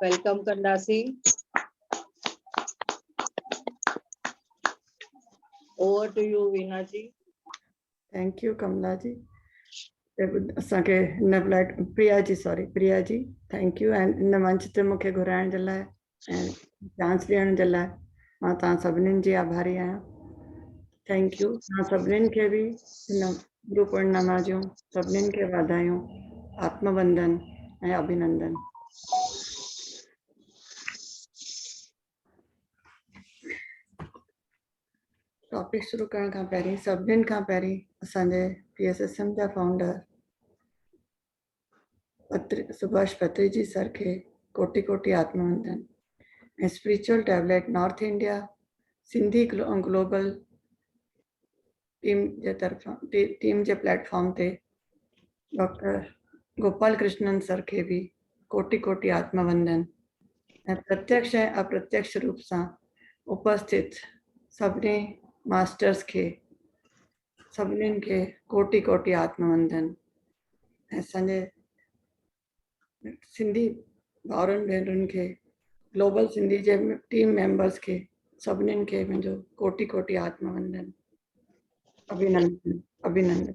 Welcome ڪنداسين over to you Veena ji thank you Kamla ji اسان کي هن flight Priya ji sorry Priya ji thank you ۽ هن منچ تي مونکي گهرائڻ جي لاء ۽ چانس ڏيڻ جي لاء مان توهان سڀنين جي آڀاري آهيان ٿينڪ يو توهان سڀنين کي به هن گرو پورنما جون سڀنين کي واڌايون آتم وندن ۽ اڀنندن ٽاپڪ شروع ڪرڻ کان پهرين سڀنين کان پهرين اسان جي پي ايس ايس ايم جا فاؤنڊر سڀاش پتري جي سر کي ڪوٽي ڪوٽي آتما وندن ۽ spiritual tablet north India Sindhi global team جي طرفان ٽيم جي پليٽ فارم تي ڊاڪٽر گوپال ڪرشنن سر کي به ڪوٽي ڪوٽي آتما وندن ۽ پرتيڪش ۽ اپرتيڪش روپ سان اپستيت سڀني ماسٽرز کي سڀنين کي ڪوٽي ڪوٽي آتم وندن ۽ اسانجي سنڌي ڀائرن ڀينرن کي گلوبل سنڌي جي ٽيم ميمبرس کي سڀنين کي منهنجو ڪوٽي ڪوٽي آتم وندن ابھينندن ابھينندن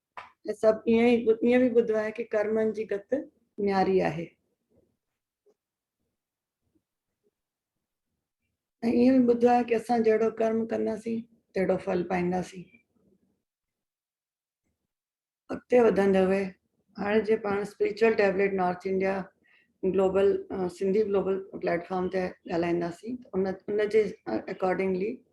۽ سڀ ائين به ٻڌو آهي ڪي ڪرمن جي گت نياري آهي. ۽ ائين به ٻڌو آهي ڪي اسان جهڙو ڪرم ڪنداسين تهڙو ڦل پائينداسين. اڳتي وڌندي هئي هاڻي جي پاڻ spiritual tablet north India global Sindhi global platform تي ڳالهائينداسين ان ان جي اڪارڊنگلي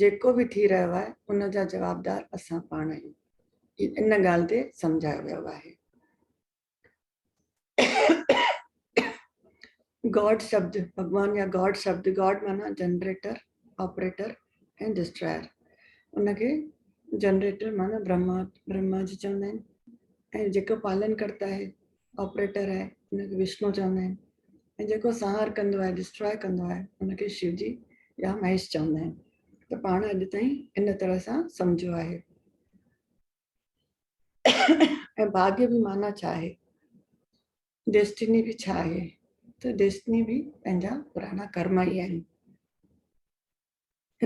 جيڪو به ٿي رهيو آهي ان جا جوابدار اسان پاڻ آهيون هي ان ڳالهه تي سمجهايو ويو آهي. گاڊ شبد ڀڳوان يا گاڊ شبد گاڊ معنيٰ جنريٽر آپريٽر ۽ ڊسٽراير ان کي جنريٽر معنيٰ برهما برهما جي چوندا آهن ۽ جيڪو پالن ڪرتا آهي آپريٽر آهي ان کي وشنو چوندا آهن ۽ جيڪو سنهار ڪندو آهي ڊسٽراء ڪندو آهي ان کي شو جي يا مهيش چوندا آهن ته پاڻ اڄ تائين ان طرح سان سمجهيو آهي ۽ ڀاڳ به معنيٰ ڇا آهي ڊيسٽني به ڇا آهي ته ڊيسٽني به پنهنجا پراڻا ڪرم ئي آهن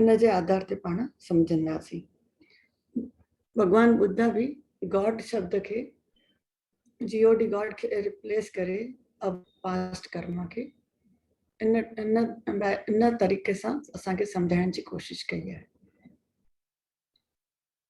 ان جي آڌار تي پاڻ سمجهنداسين. ڀڳوان ٻڌا به God شبد کي GOD God کي ريپليس ڪري اب پاسٽ ڪرما کي ان ان ان طريقي سان اسان کي سمجهائڻ جي ڪوشش ڪئي آهي.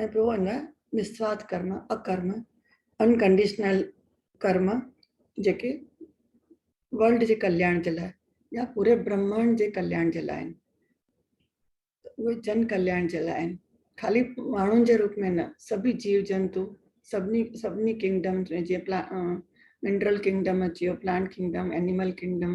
۽ پوء ان نسوارٿ ڪرم، اڪرم، Unconditional ڪرم، جيڪي ورلڊ جي ڪلياڻ جي لاء يا پوري برهمانڊ جي ڪلياڻ جي لاء آهن اهي جن ڪلياڻ جي لاء آهن خالي ماڻهن جي روپ ۾ نه سڀئي جيو جنتو سڀني سڀني ڪنگڊم ۾ جيئن پلا منڊرل ڪنگڊم اچي ويو پلانٽ ڪنگڊم اينيمل ڪنگڊم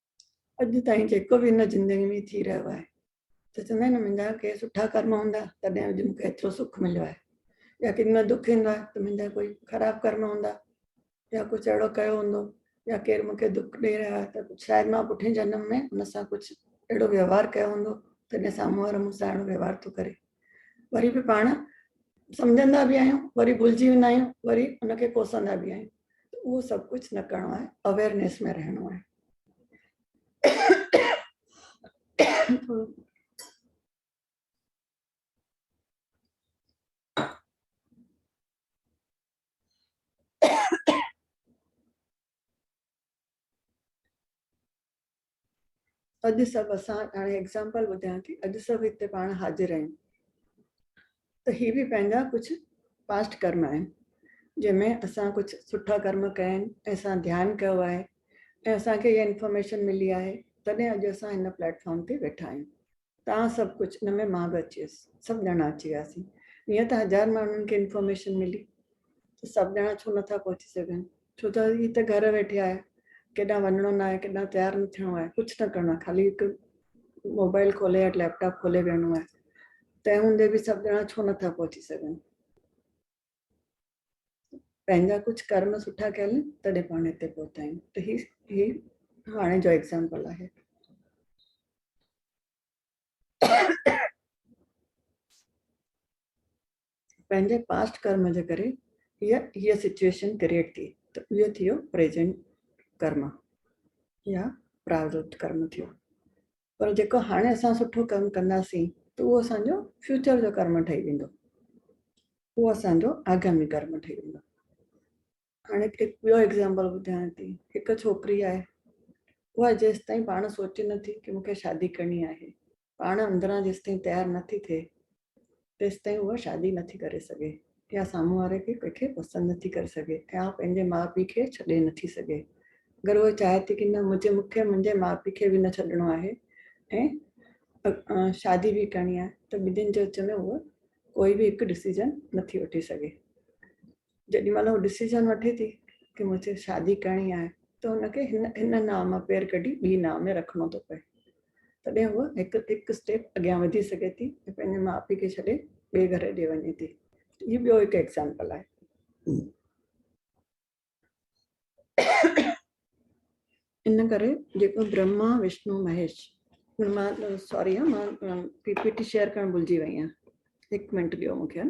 اڄ تائين جيڪو به هن زندگي ۾ ٿي رهيو آهي ته چوندا آهن منهنجا ڪي سٺا ڪرم هوندا تڏهن اڄ مونکي ايترو سک مليو آهي يا ڪن ۾ دک ايندو آهي ته منهنجا ڪوئي خراب ڪرم هوندا يا ڪجهه اهڙو ڪيو هوندو يا ڪير مونکي دک ڏيئي رهيو آهي ته شايد مان پٺين جنم ۾ ان سان ڪجهه اهڙو وهوار ڪيو هوندو تڏهن سامهون وارو مون سان اهڙو وهوار ٿو ڪري وري به پاڻ سمجهندا به آهيون وري ڀلجي ويندا آهيون وري ان کي ڪوسندا به آهيون اهو سڀ ڪجهه نه ڪرڻو آهي اويرنيس ۾ رهڻو آهي اڄ سڀ اسان هاڻي ايگزامپل ٻڌايان ٿي اڄ سڀ هتي پاڻ حاضر آهيون ته هي به پنهنجا ڪجهه پاسٽ ڪرم آهن جنهن ۾ اسان ڪجهه سٺا ڪرم ڪيا آهن ۽ اسان ڌيان ڪيو آهي ۽ اسان کي اها انفارميشن ملي آهي تڏهن اڄ اسان هن پليٽ فارم تي ويٺا آهيون تان سڀ ڪجهه ان ۾ مان به اچي ويس سڀ ڄڻا اچي وياسين ائين ته هزار ماڻهن کي انفارميشن ملي ته سڀ ڄڻا ڇو نٿا پهچي سگهن ڇو ته هي ته گهر ويٺي آهي ڪيڏانهن وڃڻو نه آهي ڪيڏانهن تيار نه ٿيڻو آهي ڪجهه نه ڪرڻو آهي خالي هڪ موبائل کولي يا ليپ ٽاپ کولي ويهڻو آهي تنهن هوندي به سڀ ڄڻا ڇو نٿا پهچي سگهن. پنهنجا ڪجهه ڪرم سٺا ڪيل تڏهن پاڻ هتي پهتا آهيون ته هي هي هاڻي جو ايگزامپل آهي پنهنجي پاسٽ ڪرم جي ڪري هي هي سچويشن ڪرييٽ ٿي ته اهو ٿيو پريزنٽ ڪرم يا پراوت ڪرم ٿيو پر جيڪو هاڻي اسان سٺو ڪم ڪنداسين ته اهو اسان جو فيوچر جو ڪرم ٺهي ويندو اهو اسان جو آگامي ڪرم ٺهي ويندو هاڻي هڪ ٻيو ايگزامپل ٻڌايان ٿي هڪ ڇوڪري آهي اها جيستائين پاڻ سوچي نٿي ڪي مونکي شادي ڪرڻي آهي پاڻ اندران جيستائين تيار نٿي ٿئي تيستائين هوء شادي نه ٿي ڪري سگهي يا سامهون واري کي ڪنهن کي پسند نه ٿي ڪري سگهي ۽ آء پنهنجي ماء پيء کي ڇڏي نه ٿي سگهي اگر هوء چاهي ٿي ڪي نه مونکي منهنجي ماء پيء کي به نه ڇڏڻو آهي ۽ شادي به ڪرڻي آهي ته ٻنهين جي وچ ۾ هوء ڪوئي به هڪ ڊسيزن نه ٿي وٺي سگهي. جيڏي مھل ھوء ڊسيزن وٺي ٿي ته مون سين شادي ڪرڻي آھي ته ھن کي ھن ناء مان پير ڪڍي ٻي ناء ۾ رکڻو ٿو پئي تڏھن ھوء ھڪ ھڪ اسٽيپ اڳيان وڌي سگھي ٿي ۽ پنھنجي ماء پيء کي ڇڏي ٻئي گھر ڏي وڃي ٿي ھي ٻيو ھڪ ايگزامپل آھي. ان ڪري جيڪو برھما وشنو مھيش ھن مان سوري مان پي پي ٽي شيئر ڪرڻ بھلجي وئي آھيان ھڪ منٽ ڏيو مون کي.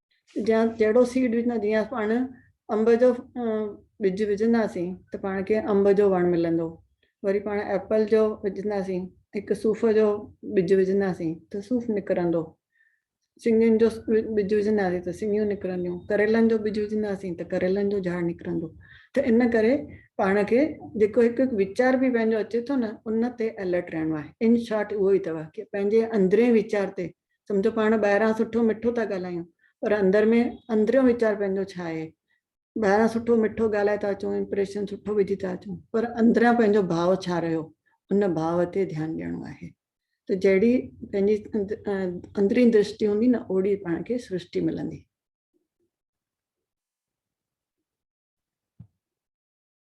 جيان جهڙو سيڊ وجهندا آهيون جيئن پاڻ انب جو ٻج وجهنداسين ته پاڻ کي انب جو وڻ ملندو وري پاڻ ايپل جو وجهنداسين هڪ صوف جو ٻج وجهنداسين ته صوف نڪرندو سنگين جو ٻج وجهنداسين ته سنگيون نڪرنديون ڪريلن جو ٻج وجهنداسين ته ڪريلن جو جھاڙ نڪرندو ته ان ڪري پاڻ کي جيڪو هڪ هڪ ويچار به پنهنجو اچي ٿو نه ان تي الرٽ رهڻو آهي ان شارٽ اهو ئي اٿو ڪي پنهنجي اندرين ويچار تي سمجهو پاڻ ٻاهران سٺو مٺو ٿا ڳالهايون پر اندر ۾ اندريون ويچار پنهنجو ڇا آهي ٻاهران سٺو مٺو ڳالهائي ٿا اچون امپريشن سٺو وجهي ٿا اچون پر اندريان پنهنجو ڀاو ڇا رهيو ان ڀاو تي ڌيان ڏيڻو آهي ته جهڙي پنهنجي اندرين درشٽي هوندي نه اوڙي پاڻ کي سرشٽي ملندي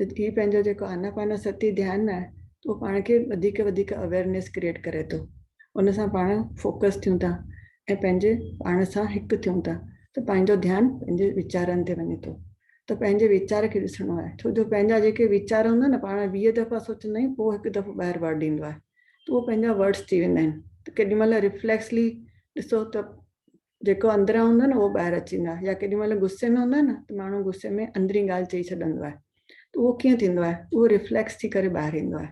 ته هي پنهنجو جيڪو آناپاناساتي ڌيان آهي ته اهو پاڻ کي وڌيڪ وڌيڪ اويئرنيس ڪريئيٽ ڪري ٿو ان سان پاڻ فوڪس ٿيون ٿا ۽ پنهنجي پاڻ سان هڪ ٿيون ٿا ته پنهنجو ڌيان پنهنجي ويچارن تي وڃي ٿو ته پنهنجي ويچار کي ڏسڻو آهي ڇو جو پنهنجا جيڪي ويچار هوندا آهن پاڻ ويهه دفعا سوچندا آهيون پوء هڪ دفعو ٻاهر ورڊ ايندو آهي ته اهو پنهنجا ورڊس ٿي ويندا آهن ته ڪيڏي مهل ريفليڪسلي ڏسو ته جيڪو اندران هوندو آهي نه اهو ٻاهر اچي ويندو آهي يا ڪيڏي مهل غصي ۾ هوندو آهي نه ته ماڻهو غصي ۾ اندرين ڳالهه چئي ڇڏندو آهي ته اهو ڪيئن ٿيندو آهي اهو ريفليڪس ٿي ڪري ٻاهر ايندو آهي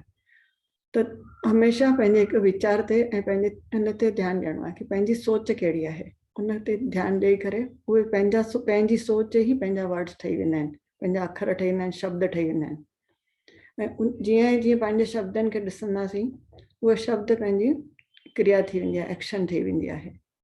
ته هميشه پنهنجي هڪ ويچار تي ۽ پنهنجي ان تي ڌيان ڏيڻو آهي ڪي پنهنجي سوچ ڪهڙي آهي ان تي ڌيان ڏيئي ڪري اهي پنهنجا پنهنجي سوچ ئي پنهنجا ورڊس ٺهي ويندا آهن پنهنجا اکر ٺهي ويندا آهن شبد ٺهي ويندا آهن ۽ جيئن ئي جيئن پنهنجي شبدن کي ڏسنداسين اهي شبد پنهنجي ڪريا ٿي ويندي آهي ايڪشن ٺهي ويندي آهي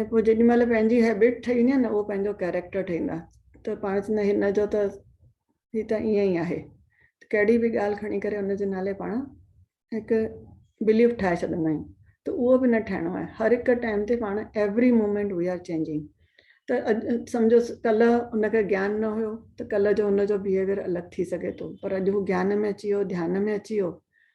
۽ پوء جيڏي مهل پنهنجي هيبٽ ٺهي وڃي نه اهو پنهنجو ڪيريڪٽر ٺهيندا ته پاڻ چوندا هن جو ته هي ته ائين ئي آهي ڪهڙي به ڳالهه کڻي ڪري ان جي نالي پاڻ هڪ بليف ٺاهي ڇڏندا آهيون ته اهو به نه ٺهڻو آهي هر هڪ ٽائيم تي پاڻ every moment we are changing ته اڄ سمجهو ڪلهه ان کي گيان نه هيو ته ڪلهه جو ان جو بهيويئر الڳ ٿي سگهي ٿو پر اڄ هو گيان ۾ اچي ويو ڌيان ۾ اچي ويو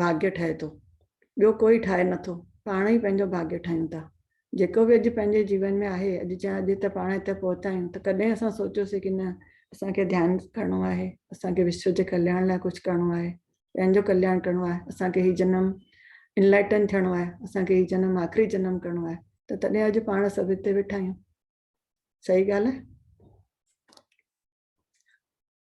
ڀاڳيو ٺاهي ٿو ٻيو ڪوئي ٺاهي نٿو پاڻ ئي پنهنجو ڀاڳيو ٺاهيون ٿا جيڪو به اڄ پنهنجي جيون ۾ آهي اڄ چا اڄ ته پاڻ هتي پهتا آهيون ته ڪڏهن اسان سوچيوسي ڪي نه اسان کي ڌيان ڪرڻو آهي اسان کي وشو جي ڪلياڻ لاء ڪجهه ڪرڻو آهي پنهنجو ڪلياڻ ڪرڻو آهي اسان کي هي جنم انلائٽن ٿيڻو آهي اسان کي هي جنم آخري جنم ڪرڻو آهي ته تڏهن اڄ پاڻ سڀ هتي ويٺا آهيون صحيح ڳالهه آهي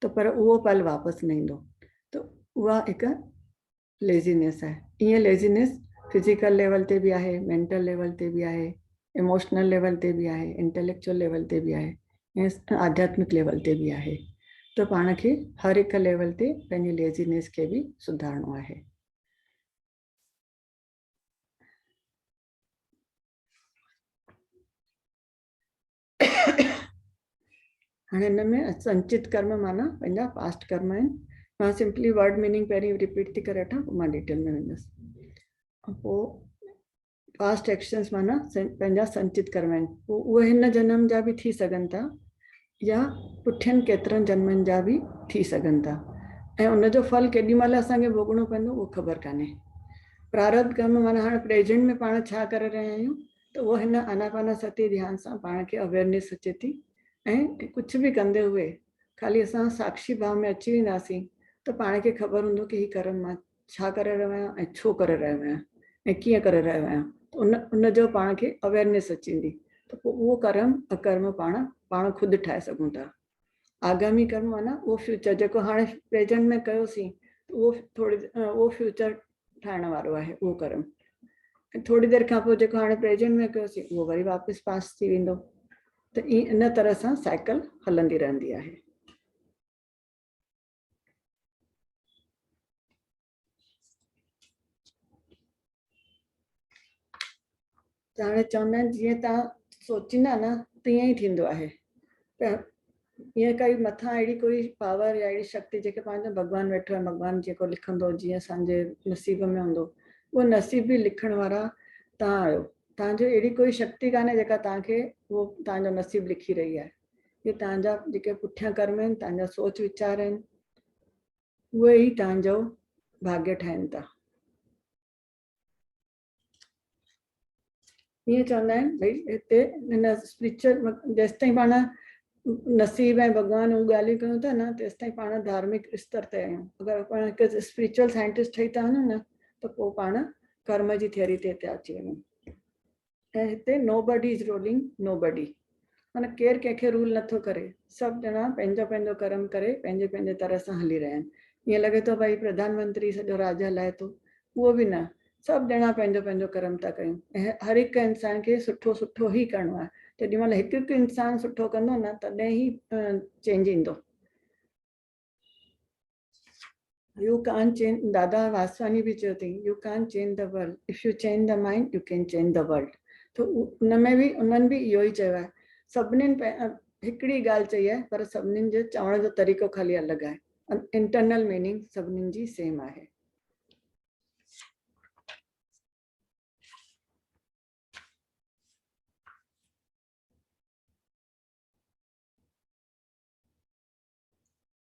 ته پر اهو پل واپس نه ايندو ته اها هڪ ليزينيس آهي ايئن ليزينيس فزيڪل ليول تي به آهي مينٽل ليول تي به آهي اموشنل ليول تي به آهي انٽيليڪچوئل ليول تي به آهي ۽ آڌياتمڪ ليول تي به آهي ته پاڻ کي هر هڪ ليول تي پنهنجي ليزينيس کي به سڌارڻو آهي هاڻي هن ۾ سنچت ڪرم معنيٰ پنهنجا پاسٽ ڪرم آهن مان سمپلي ورڊ ميننگ پهرين ريپيٽ ٿي ڪري وٺان پوء مان ڊيٽيل ۾ ويندس پوء پاسٽ ايڪشنس معنيٰ پنهنجا سنچت ڪرم آهن پوء اهي هن جنم جا به ٿي سگهن ٿا يا پٺين ڪيترن جنمن جا به ٿي سگهن ٿا ۽ ان جو ڦل ڪيڏي مهل اسانکي ڀوڳڻو پوندو اهو خبر ڪانهي پراربڌ ڪرم معنيٰ هاڻي پريزنٽ ۾ پاڻ ڇا ڪري رهيا آهيون ته هوء هن آناپانا ستي ڌيان سان پاڻ کي Awareness اچي ٿي ۽ ڪجهه به ڪندي هوء خالي اسان ساکشي ڀاء ۾ اچي وينداسين ته پاڻ کي خبر هوندو ڪه هي ڪرم مان ڇا ڪري رهيو آهيان ۽ ڇو ڪري رهيو آهيان ۽ ڪيئن ڪري رهيو آهيان ته ان ان جو پاڻ کي Awareness اچي ويندي ته پوء اهو ڪرم اڪرم پاڻ پاڻ خود ٺاهي سگهون ٿا آگامي ڪرڻ معنيٰ اهو فيوچر جيڪو هاڻي پريزنٽ ۾ ڪيوسين اهو ٿوري اهو فيوچر ٺاهڻ وارو آهي اهو ڪرم ٿوري دير کان پوء جيڪو هاڻي پريزنٽ ۾ ڪيوسين اهو وري واپس پاس ٿي ويندو ته ان طرح سان سائيڪل هلندي رهندي آهي ته هاڻي چوندا آهن جيئن تان سوچيندا نه تيئن ئي ٿيندو آهي ته ائين ڪائي مٿان اهڙي ڪوئي پاور يا اهڙي شڪتي جيڪي پنهنجو ڀڳوان ويٺو آهي ڀڳوان جيڪو لکندو جيئن اسان جي نصيب ۾ هوندو اهو نصيب به لکڻ وارا تان آهيو تان جو اهڙي ڪوئي شڪتي ڪانه جيڪا تان کي اهو تان جو نصيب لکي رهي آهي هي تان جا جيڪي پٺيان ڪرم آهن تان جا سوچ ويچار آهن اهي ئي تهنجو ڀاڳيء ٺاهين ٿا. ائين چوندا آهن ڀئي هتي هن اسپريچل جيستائين پاڻ نصيب ۽ ڀڳوان اهو ڳالهيون ڪيون ٿا نه تيستائين پاڻ ڌارمڪ استر تي آهيون اگر پاڻ هڪ اسپريچل سائنٽسٽ ٺهي ٿا وڃون نه ته پوء پاڻ ڪرم جي ٿيوري تي ٿا اچي وڃون ۽ هتي Nobody is ruling nobody معنيٰ ڪير ڪنهن کي رول نٿو ڪري سڀ ڄڻا پنهنجو پنهنجو ڪرم ڪري پنهنجي پنهنجي طرح سان هلي رهيا آهن ائين لڳي ٿو ڀائي پرڌان منتري سڄو راڄ هلائي ٿو اهو به نه سڀ ڄڻا پنهنجو پنهنجو ڪرم ٿا ڪيون ۽ هر هڪ انسان کي سٺو سٺو ئي ڪرڻو آهي جيڏي مهل هڪ هڪ انسان سٺو ڪندو نه تڏهن ئي چينج ايندو. You can't change Dada Vaswani به چيو اٿئي you can't change the world if you change the mind you can change the world ته ان ۾ به انهن به اهو ئي چيو آهي سڀنين هڪڙي ڳالهه چئي آهي پر سڀنين جو چوڻ جو طريقو خالي الڳ آهي انٽرنل ميننگ سڀنين جي سيم آهي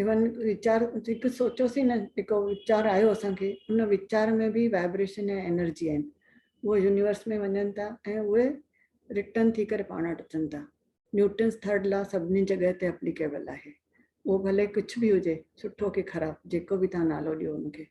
ايون ويچار هڪ سوچيوسين نه هڪ ويچار آيو اسان کي ان ويچار ۾ به وائبريشن ۽ انرجي آهن اهي يونيورس ۾ وڃن ٿا ۽ اهي رٽرن ٿي ڪري پاڻ وٽ اچن ٿا نيوٽنس ٿرڊ لا سڀني جڳهه تي اپليڪيبل آهي اهو ڀلي ڪجهه به هجي سٺو ڪي خراب جيڪو به تان نالو ڏيو ان کي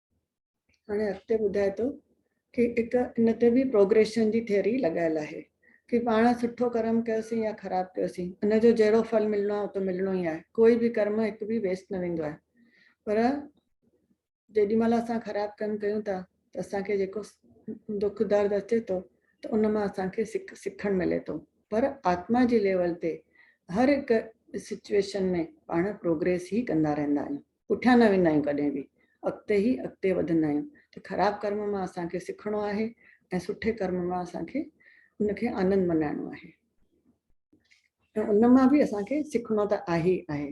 هاڻي اڳتي ٻڌائي ٿو ڪي هڪ ان تي به پروگريشن جي ٿيوري لڳايل آهي ڪي پاڻ سٺو ڪرم ڪيوسين يا خراب ڪيوسين ان جو جهڙو ڦل ملڻو آهي اهو ته ملڻو ئي آهي ڪوئي به ڪرم هڪ به ويسٽ نه ويندو آهي پر جيڏي مهل اسان خراب ڪم ڪيون ٿا ته اسان کي جيڪو دک درد اچي ٿو ته ان مان اسان کي سک سکڻ ملي ٿو پر آتما جي ليول تي هر هڪ سچويشن ۾ پاڻ پروگريس ئي ڪندا رهندا آهيون پٺيان نه ويندا آهيون ڪڏهن به اڳتي ئي اڳتي وڌندا آهيون ته خراب ڪرم مان اسان کي سکڻو آهي ۽ سٺي ڪرم مان اسان کي ان کي آنند ملهائڻو آهي ۽ ان مان به اسان کي سکڻو ته آهي ئي آهي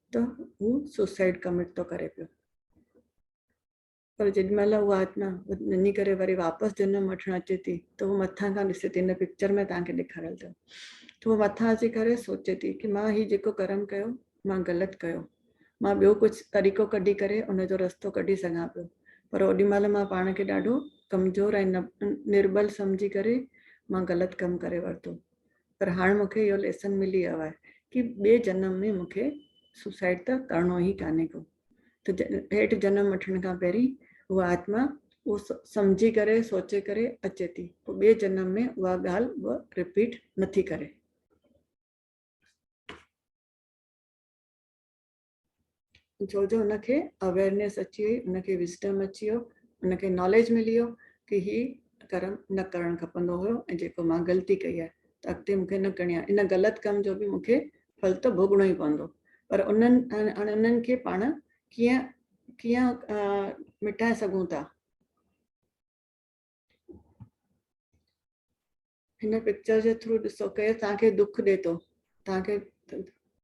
ته هو سوسائيڊ ڪمٽ ٿو ڪري پيو پر جيڏي مهل هو آتما نني ڪري وري واپس جنم وٺڻ اچي ٿي ته هو مٿان کان ڏسي ٿي هن پڪچر ۾ تان کي ڏيکاريل اٿو ته هو مٿان اچي ڪري سوچي ٿي ڪي مان هي جيڪو ڪرم ڪيو مان غلط ڪيو مان ٻيو ڪجهه طريقو ڪڍي ڪري ان جو رستو ڪڍي سگهان پيو پر اوڏي مهل مان پاڻ کي ڏاڍو ڪمزور ۽ نربل سمجهي ڪري مان غلط ڪم ڪري ورتو پر هاڻ مون کي اهو ليسن ملي ويو آهي ڪي ٻي جنم ۾ مون کي سوسائيڊ ته ڪرڻو ئي ڪانهي ڪو ته هيٺ جنم وٺڻ کان پهرين اها آتما اهو سمجهي ڪري سوچي ڪري اچي ٿي پوء ٻي جنم ۾ اها ڳالهه به رپيٽ نٿي ڪري. ڇو جو ان کي اويرنيس اچي وئي ان کي وسٽم اچي ويو ان کي ناليج ملي ويو ڪي هي ڪرم نه ڪرڻ کپندو هيو ۽ جيڪو مان غلطي ڪئي آهي ته اڳتي مونکي نه ڪرڻي آهي ان غلط ڪم جو به مونکي ڦل ته ڀوڳڻو ئي پوندو پر انهن انهن کي پاڻ ڪيئن ڪيئن مٽائي سگهون ٿا هن پڪچر جي ٿرو ڏسو ڪير توهان کي دک ڏي ٿو توهان کي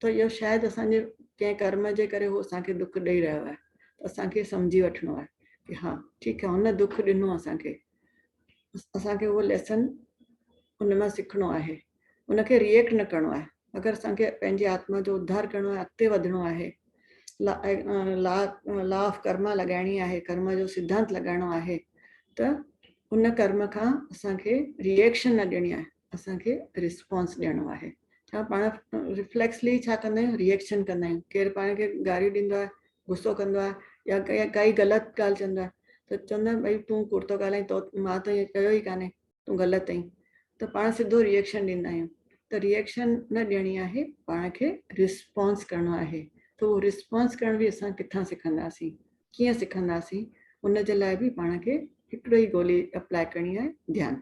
ته اهو شايد اسان جي ڪنهن ڪرم جي ڪري هو اسان کي دک ڏئي رهيو آهي اسان کي سمجهي وٺڻو آهي ڪي ها ٺيڪ آهي هن دک ڏنو اسان کي اسان کي اهو ليسن ان مان سکڻو آهي ان کي ريئيڪٽ نه ڪرڻو آهي اگر اسان کي پنهنجي آتما جو اڌار ڪرڻو ۽ اڳتي وڌڻو آهي، لا Law of Karma لڳائڻي آهي، ڪرم جو سڌانت لڳائڻو آهي ته ان ڪرم کان اسان کي ريئڪشن نه ڏيڻي آهي، اسان کي ريسپانس ڏيڻو آهي. ڇا پاڻ ريفليڪسلي ڇا ڪندا آهيون ريئڪشن ڪندا آهيون، ڪير پاڻ کي گاريون ڏيندو آهي، غصو ڪندو آهي يا ڪا ڪائي غلط ڳالهه چوندو آهي ته چوندا آهن ڀئي تون ڪوڙ ٿو ڳالهائين تو مان تو ائين ڪيو ئي ڪانهي، تون غلط اهين ته پاڻ سڌو ريئڪشن ڏيندا آهيون ته ريئڪشن نه ڏيڻي آهي پاڻ کي رسپانس ڪرڻو آهي ته اهو رسپانس ڪرڻ به اسان ڪٿان سکنداسين ڪيئن سکنداسين ان جي لاء به پاڻ کي هڪڙو ئي گولي اپلاء ڪرڻي آهي ڌيان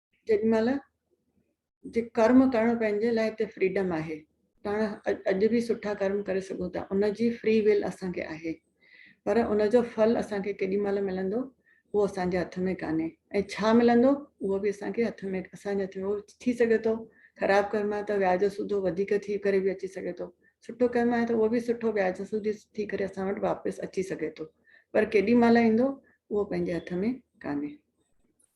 جيڏي مهل جي ڪرم ڪرڻ پنهنجي لاء هتي فريڊم آهي پاڻ اڄ به سٺا ڪرم ڪري سگهون ٿا ان جي فري ويل اسان کي آهي پر ان جو ڦل اسان کي ڪيڏي مهل ملندو اهو اسان جي هٿ ۾ ڪانهي ۽ ڇا ملندو اهو به اسان کي هٿ ۾ اسان جي هٿ ۾ ٿي سگهي ٿو خراب ڪرم آهي ته وياج سوڌو وڌيڪ ٿي ڪري به اچي سگهي ٿو سٺو ڪرم آهي ته اهو به سٺو وياج سوڌي ٿي ڪري اسان وٽ واپس اچي سگهي ٿو پر ڪيڏي مهل ايندو اهو پنهنجي هٿ ۾ ڪانهي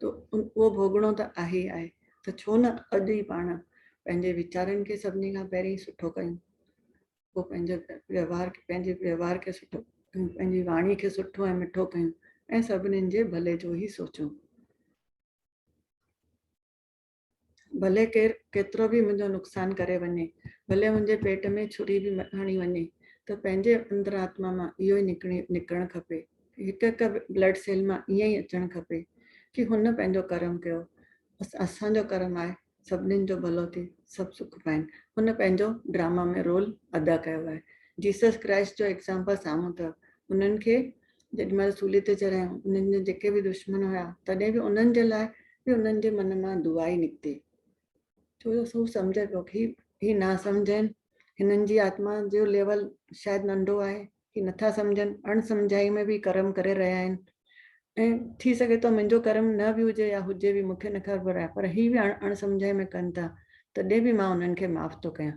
ته اهو ڀوڳڻو ته آهي ئي آهي ته ڇو نه اڄ ئي پاڻ پنهنجي ويچارن کي سڀني کان پهرين سٺو ڪيون، پوء پنهنجو ويوهار کي پنهنجي ويوهار کي سٺو ڪيون، پنهنجي واڻي کي سٺو ۽ مٺو ڪيون ۽ سڀني جي ڀلي جو ئي سوچون. ڀلي ڪير ڪيترو به منهنجو نقصان ڪري وڃي، ڀلي منهنجي پيٽ ۾ ڇري به هڻي وڃي ته پنهنجي اندرآتما مان اهو ئي نڪرڻ کپي، هڪ هڪ بلڊ سيل مان ائين ئي اچڻ کپي ڪي هن پنهنجو ڪرم ڪيو، بس اسان جو ڪرم آهي سڀنين جو ڀلو ٿي سڀ سک پائين، هن پنهنجو ڊراما ۾ رول ادا ڪيو آهي، جيسس ڪرائسٽ جو ايگزامپل سامهون اٿو، هنن کي جڏهن مهل سولي تي چڙهيائون، انهن جا جيڪي به دشمن هيا، تڏهن به انهن جي لاء به انهن جي من مان دعا ئي نڪتي، ڇو جو هو سمجهي پيو هي هي ناسمجهه آهن، هنن جي آتما جو ليول شايد ننڍو آهي، هي نٿا سمجهن، اڻ سمجهائي ۾ به ڪرم ڪري رهيا آهن ۽ ٿي سگهي ٿو منهنجو ڪرم نه به هجي يا هجي به مون کي نه خبر آهي پر هي به اڻ سمجهائي ۾ ڪن ٿا، تڏهن به مان انهن کي معاف ٿو ڪيان.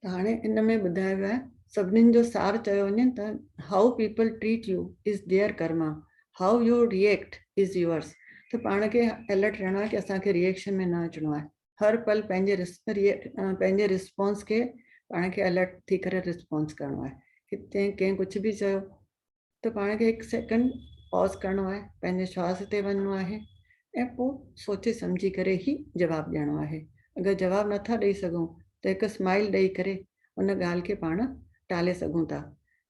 ته هاڻي ان ۾ ٻڌايو ويو آهي سڀنين جو سار چيو وڃي ته how people treat you is their karma how you react is yours ته پاڻ کي الرٽ رهڻو آهي ته اسان کي ريئيڪشن ۾ نه اچڻو آهي هر پل پنهنجي پنهنجي رسپانس کي پاڻ کي الرٽ ٿي ڪري رسپانس ڪرڻو آهي ڪنهن ڪنهن ڪجهه به چيو ته پاڻ کي هڪ سيڪنڊ پاز ڪرڻو آهي پنهنجي شواس تي وڃڻو آهي ۽ پوء سوچي سمجهي ڪري ئي جواب ڏيڻو آهي اگر جواب نٿا ڏئي سگهون ته هڪ اسمائيل ڏئي ڪري ان ڳالهه کي پاڻ ٽالي سگهون ٿا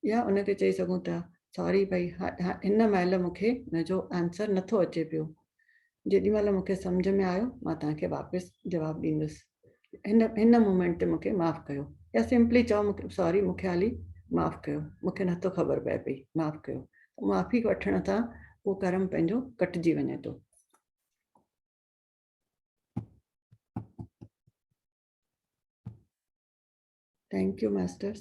يا ان کي چئي سگهون ٿا ساري ڀئي هن مهل مون کي ان جو آنسر نٿو اچي پيو جيڏي مهل مون کي سمجهه ۾ آيو مان توهان کي واپس جواب ڏيندس هن هن مومينٽ تي مون کي معاف ڪيو يا سمپلي چئو مون کي ساري مون کي هالي معاف ڪيو مون کي نه ٿو خبر پئي پئي معاف ڪيو معافي وٺڻ سان اهو ڪرم پنهنجو ڪٽجي وڃي ٿو Thank you, Masters.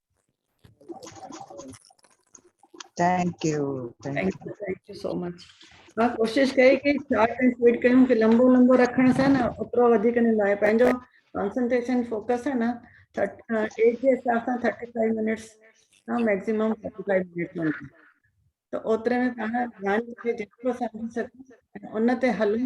Thank you thank you thank you so much ها ڪوشش ڪئي ڪي شارٽ ۽ سويٽ ڪيون ڪي لمبو لمبو رکڻ سان نه اوترو وڌيڪ نه لاء پنهنجو ڪانسنٽريشن فوڪس ها نه ايج جي حساب سان 35 منٽس ها ميڪسيمم 35 منٽس مان ته اوتري ۾ پاڻ ڌيان کي جيترو سمجهي سگهون ان تي هلون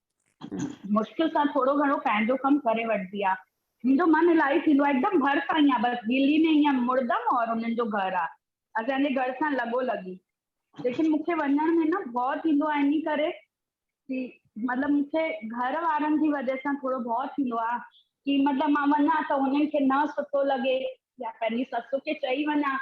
مشڪل سان ٿورو گهڻو پنهنجو ڪم ڪري وٺبي آ منهنجو من الائي ٿيندو آ هڪدم ڀر سان ايئن بس دلي ۾ ايئن مڙدم اور انهن جو گهر آ اسان جي گهر سان لڳو لڳي ليڪن مونکي وڃڻ ۾ نه ڀؤ ٿيندو آ انهي ڪري ڪي مطلب مونکي گهر وارن جي وجه سان ٿورو ڀؤ ٿيندو آ ڪي مطلب مان وڃان ته انهن کي نه سٺو لڳي يا پنهنجي سس کي چئي وڃان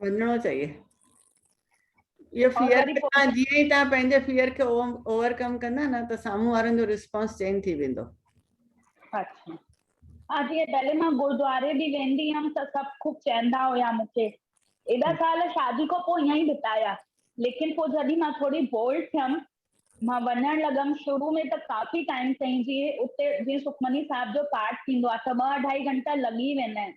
وڃڻو چاهيي اهو فيئر تان جيئن ئي تان پنهنجي فيئر کي اوورڪم ڪندا نه ته سامهون وارن جو ريسپانس چينج ٿي ويندو اچھا ها جي پهلي مان گردواري به ويندي هم ته سڀ خوب چيندا هيا مونکي ايڏا سال شادي کان پوء ائين ئي بتايا ليڪن پوء جڏهن مان ٿوري بولڊ ٿيم مان وڃڻ لڳم شروع ۾ ته ڪافي ٽائيم تائين جي اتي جي سکمني صاحب جو پاٽ ٿيندو آ ته ٻه اڍائي گهنٽا لڳي ويندا آهن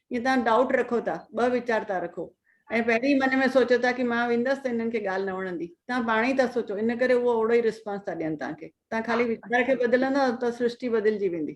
جي توهان ڊائوٽ رکو ٿا، ٻه ويچار ٿا رکو ۽ پهرين ئي من ۾ سوچو ٿا ڪي مان ويندس ته هنن کي ڳالهه نه وڻندي، توهان پاڻ ئي ٿا سوچو ان ڪري اهو اوڙو ئي رسپانس ٿا ڏين توهان کي، توهان خالي ويچار کي بدلندا ته سرشٽي بدلجي ويندي.